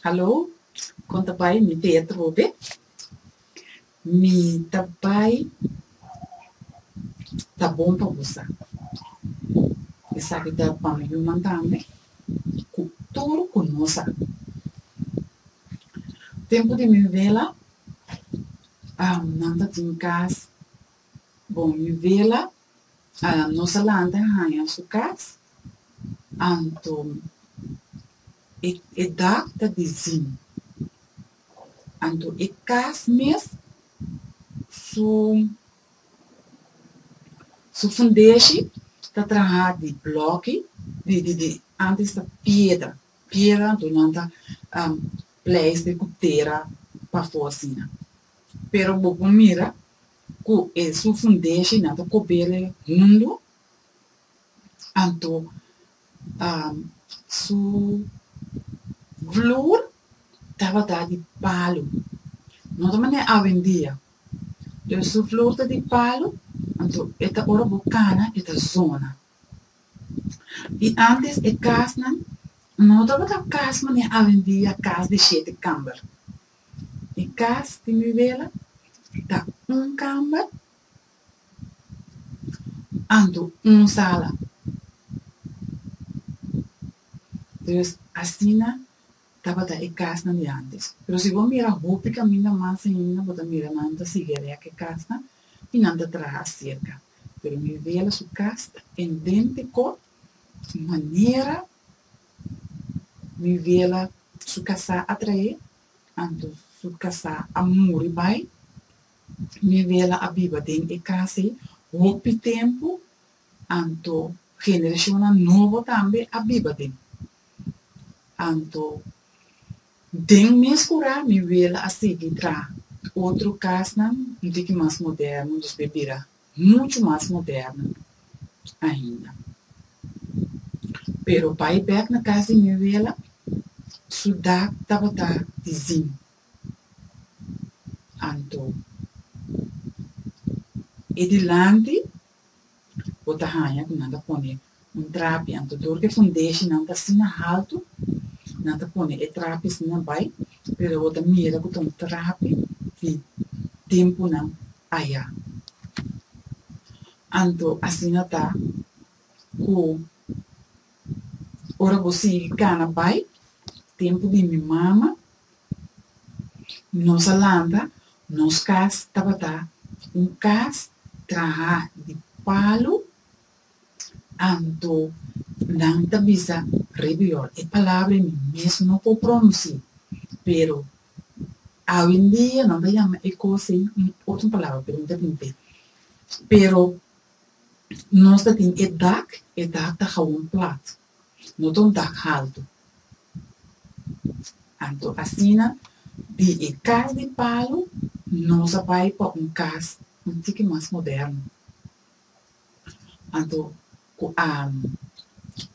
Hallo, kon ta bai mi teater hopi? Mi ta bai Ta Bon Pa Bo Sa. Esaki ta pa mi yunan tambe ku tur ku nos sa. Tempu di mi wela nan ta tin kas bon mi wela Nos a lanta haña su kas, anto e e dak ta dizin, anto e kas mes su su fundeshi ta traha di blòki di di di antes ta piedra piedra anto nan ta pleiste ku tera pafó asina pero bo por mira Ku e su fundeshi nan ta kobere mundu, anto su vloer tabata di palu, no ta manera awendia, pero su vloer ta di palu, anto e ta ora bo kana e ta zona. I ántes e kasnan no tabata kas manera awendia, kas di shete kamber. di kas di mi wela ta un kamber anto un sala. Pues asina tabata e kasnan di antes. Pero si bo mira hopi kaminda mas ainda bo ta mira nan ta sigui a rek e kasnan i nan ta traha serka. Pero mi wela su kas ta en den Tecot, su manera Mi biela su kasá a traé, anto su kasá a muri bai. Mi biela a biba den e kas ei hopi tempu, anto generashonnan nobo tambe a biba den. Anto den mes kurá mi biela a sigui traha otro kasnan un tiki mas moderno, dospe bira muchu mas moderno ainda. Pero pa e bek na kas di mi abuela, su dak tabata di zink. Anto, e dilanti bo ta haña ku nan ta pone Un trapi, anto dor di e fundeshinan ta asina haltu, nan ta pone e trapi asina bai, pero bo ta mira ku ta un trapi di tempunan ayá. Anto asina ta ku ora bo sigui kana bai, tempu di mi mama, nos a lanta, nos kas tabata un kas trahá di palu Anto, nan ta bisa, Rebeor, e palabra mi mes no por pronunsi, pero awendia nan ta yama e kos ei un otro palabra, pero mi ta tint'é. Pero nos ta tin e dak, e dak ta gawon plat, no ta un dak haltu. Anto asina di e kas di palu nos a bai pa un kas un tiki mas moderno. Anto ku a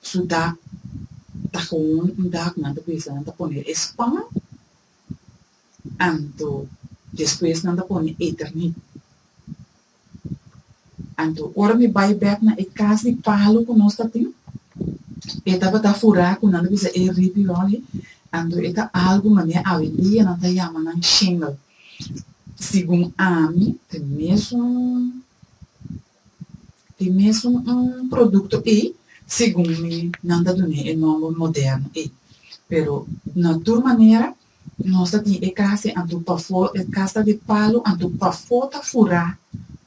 su dak ta hoon un dak nan ta bisa nan ta pone e span anto despues nan ta pone eternit anto ora mi bai bek na e kas di palu ku nos ta tin e tabata furá ku nan ta bisa e ripi roni anto e ta algu manera awe en dia nan ta yama nan shingel segun ami ta mesun E mesun un produkto ei, segun mi, nan ta dun'é e nòmber modèrno ei. Pero na tur manera nos ta tin e kasi anto pafó e kasta di palu anto pafó ta furá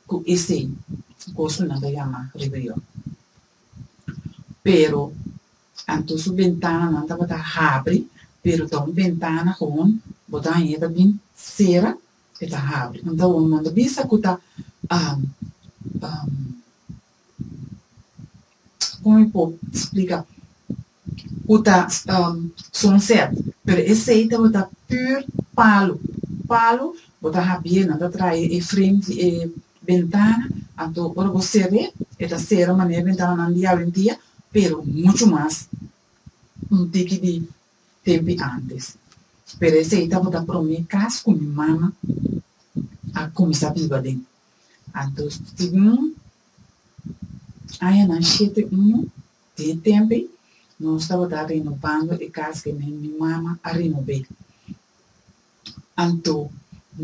ku esei kos ku nan ta yama ribeyò. Pero anto su bentananan tabata habri, pero ta un bentana, gewon botana ain e ta bin sera E ta habri. Nan ta hoga, nan ta bisa ku ta Como mi por explica? Ku ta sunset. Pero esei tabata pür palu. Palu bo ta habié, nan ta trae e frem di e bentana. Anto ora bo ser'é, e ta sera manera bentananan di awendia, pero muchu mas un tiki di tempi antes. Pero esei tabata promé kas ku mi mama a kuminsá biba den. Anto segun añanan shete unu di e tempi nos tabata renobando e kas ke mi mi mama a renob'é. Anto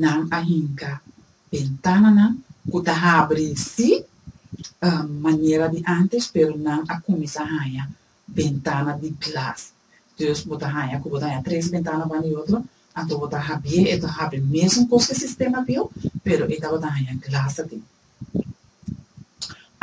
nan a hinka bentananan ku ta habri sí manera di antes pero nan a kuminsá haña bentana di glas. Dus bo ta haña ku bo ta haña tres bentana wan di otro, anto bo ta habié e ta habri mesun kos ku e sistema biou, pero e tabata haña glas ta tin.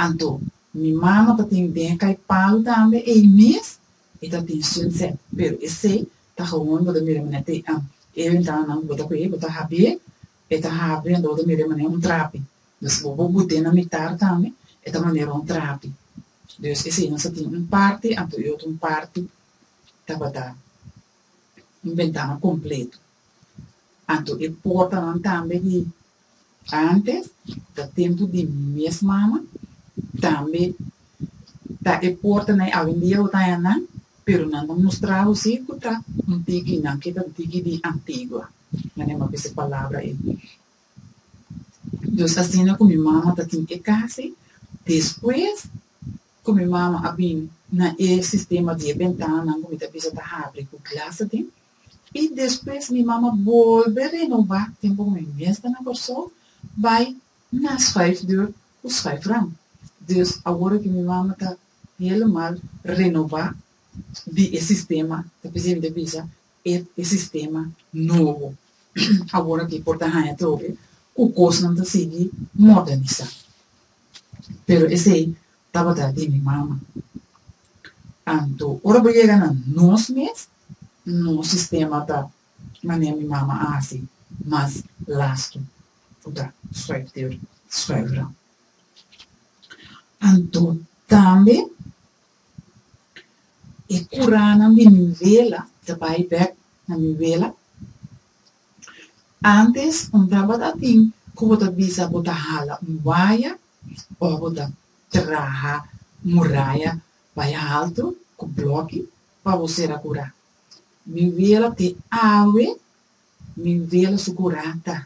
Anto mi mano ta tin den e kai palu tambe ei mes, e ta tin sun sèt, pero esei ta gawon bo ta mira manera te am e bentananan ku bo ta kué bo ta habié, e ta habri anto bo ta mira manera un trapi. Dus bo bo but'é na mitar tambe, e ta manera un trapi. Dios ke si nos a tin un parti, anto e otro un parti tabata un bentana kompleto. Anto e portanan tambe di antes, ta tempu di mes mama, tambe ta e portanan awendia hotañanan, pero nan ta mustra hosi ku ta un tiki, nan ke ta un tiki di antigua. Manera mi a bisa palabra ei, Dus asina ku mi mama ta tin e kasi, despues ku mi mama a bin na e sistema di e bentanan ku mi ta bisa ta habri ku glas aden, i despues mi mama bolbe renobá tempu ku mi mes ta na Kòrsou bai na shuif deur ku shuif ram. Dus awor ku mi mama ta helemal renobá di e sistema ta p'esei mi ta bisa E e sistema nobo awor aki por ta haña trobe ku kosnan ta sigui modernisá. Pero esei tabata di mi mama. Anto ora bo yega na nos mes, nos sistema ta manera mi mama a hasi mas lastu ku ta schuifdeur, schuifvrouw. Anto tambe E kuranan di mi wela ta bai bek na mi wela. Antes un tabata tin ku bo ta bisa bo ta hala un waya òf bo ta traha muraya bai haltu ku blòki pa bo sera kura. Mi wela te awe mi wela su kura ta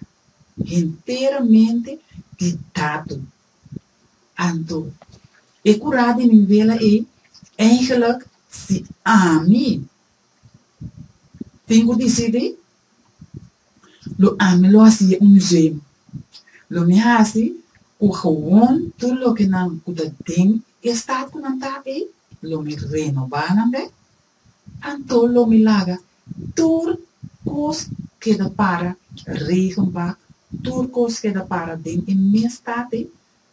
henteramente di tatu. Anto, e ku ra di mi wela ei, Eindelijk, si ami tin ku disidí, lo ami lo hasié un museum. Lo mi hasi ku gewoon tur lokenan ku ta den e stat ku nan ta ei, lo mi renobá nan bèk. Anto lo mi laga tur kos keda para, regen bak, tur kos keda para den e mes tate,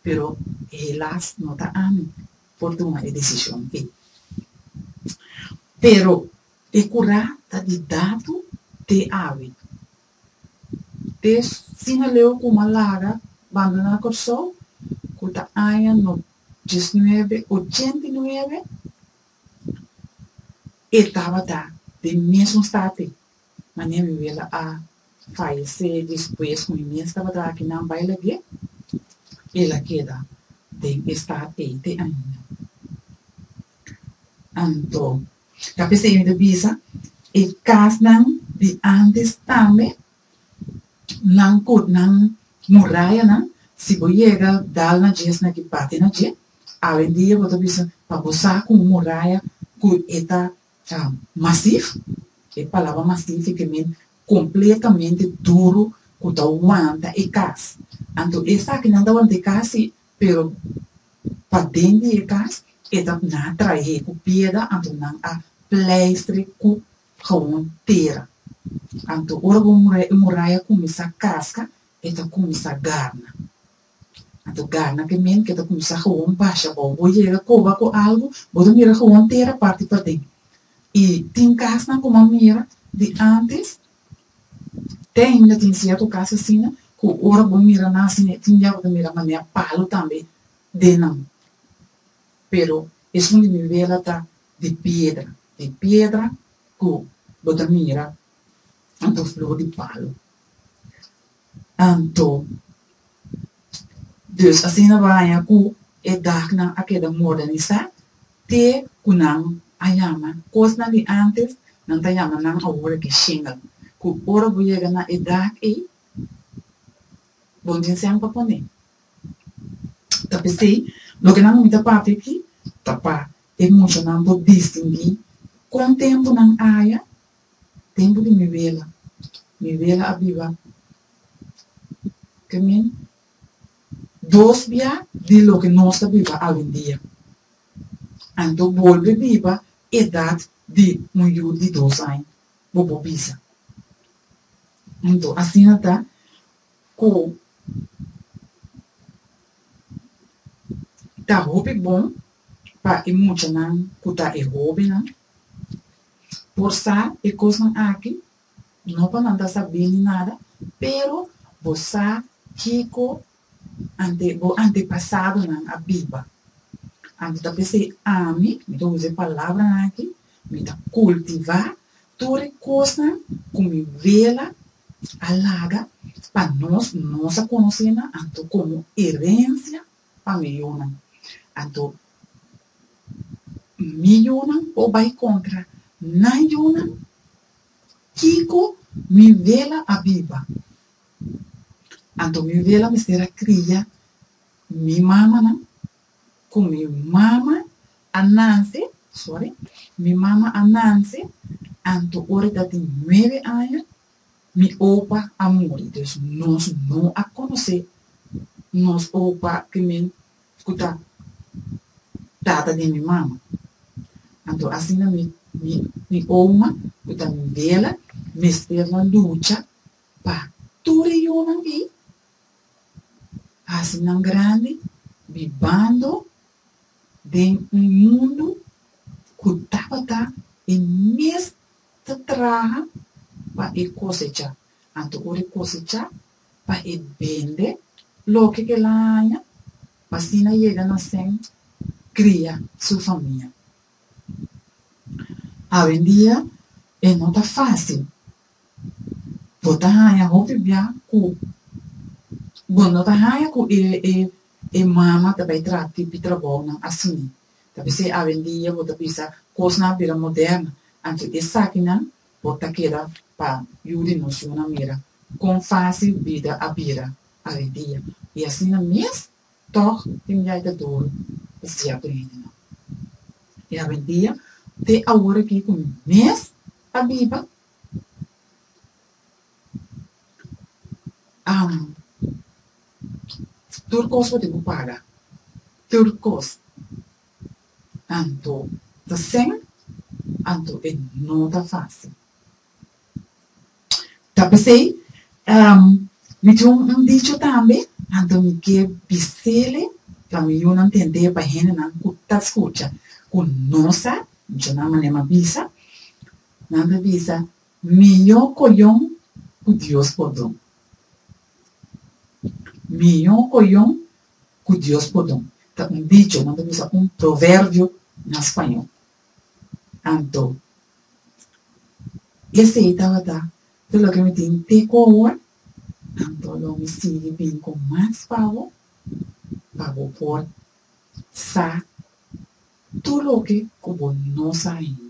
pero helas no ta ami por tuma e desishon ei. Pero e kurá ta di datu te awe. Te sima leu ku m'a laga banda na Kòrsou, ku ta aña no diesnuebe ochenta i nuebe, E tabata den e mesun state na mi abiwela a fayesé despues ku mi mes tabata aki nan bai lag'é, el a keda den e stat ei te ainda. Anto ta p'esei mi ta bisa e kasnan di ántes tambe nan ku nan murayanan si bo yega dal na dje esaki parti na dje Awendia bo ta bisa pa bo sa ku un muraya ku e ta masif. E palabra masif i ke min kompletamente duru ku ta wanta e kas. Anto esakinan ta wanta e kas si, pero paden di e kas e ta nan a trahe ku piedra anto nan a pleistre ku hawon tera. Anto ora bo muraya kuminsá kaska e ta kuminsá garna. a ta gana cu e men cu ta cuminsa gewoon pasha bao. Bo yega coba cu algu, bo ta mira gewoon tera parti paden. Y tin casnan cu m'a mira di antes, te ainda tin cierto cas asina, cu ora bo mira nan asina e tin ya bo ta mira manera palu tambe den nan. Pero esun di mi wela ta di piedra, di piedra cu bo ta mira anto flor di palu. Anto, Deus asina baña ku e dagnan a keda modernisá te ku nan a yama kosnan di ántes, nan ta yama nan awor aki shingel, ku ora bo yega na e dag ei bo no tin sèn pa pon'é. Ta p'esei, loke nan mi ta papia aki ta pa e muchanan por distingui kon tempu nan aya Tempu di mi wela, mi wela a biba te min dos bia di loke nos ta biba awendia. Anto bolbe biba edat di un yu di dos aña, bo por bisa. Anto asina ta ku ta hopi bon pa e muchanan ku ta e hobennan. por sa e kosnan aki, no pa manda sabí ni nada, pero bo sa kiko ante bo antepasadonan a biba. Anto ta p'esei ami, mi ta usa e palabranan aki, mi ta kultivá tur e kosnan ku mi wela a laga pa nos, nos a konosé nan, anto komo erensia. pa miyunan. Anto mi yunan por bai kontra nan yunan? Kiko mi wela a biba? Anto mi wela mester a kria mi mamanan? Ku mi mama a nanse, sòri, mi mama a nanse anto ora e ta tin nuebe aña? Mi opa a muri, dus nos no a konosé nos opa ku mi ku ta tata di mi mama. Anto asina mi mi mi oma ku ta mi bela mester na lucha pa tur e yunan ei hasi nan grandi bibando den un mundu ku tabata e mes Ta traha pa e kosecha, anto ora e kosecha, pa e bende loke el a haña, pa asina yega na sen kria su famia. Awendia e no ta fásil. Bo ta haña hopi bia ku bo no ta haña ku e mama ta bai traha tipi trabounan asina. Ta p'esei awendia bo ta bisa kosnan a bira moderno, anto esakinan por ta keda pa yu di nos yunan mira kon fásil bida a bira awendia. I asina mes, tòg tin biaha ta duru pa sierto hendenan. I awendia, te awor aki ku mi mes ta biba, am. Tur kos bo tin ku paga. Tur kos. Anto ta sèn, anto e no ta fásil. Ta p'esei mi tin un dicho tambe, anto mi ke bis'ele pa mi yunan tende pa hendenan ku ta skucha, ku no sa, dicho nan manera m'a bisa, nan ta bisa, mihó koyon ku Dios por don. Mihó oyon ku Dios por don ta un dicho, nan ta bisa un proverbio na spañol. Anto, esei tabata tur loke mi tin te ku awor, anto lo mi sigui bin ku mas pa bo, pa bo por sa tur loke ku bo no sa ainda.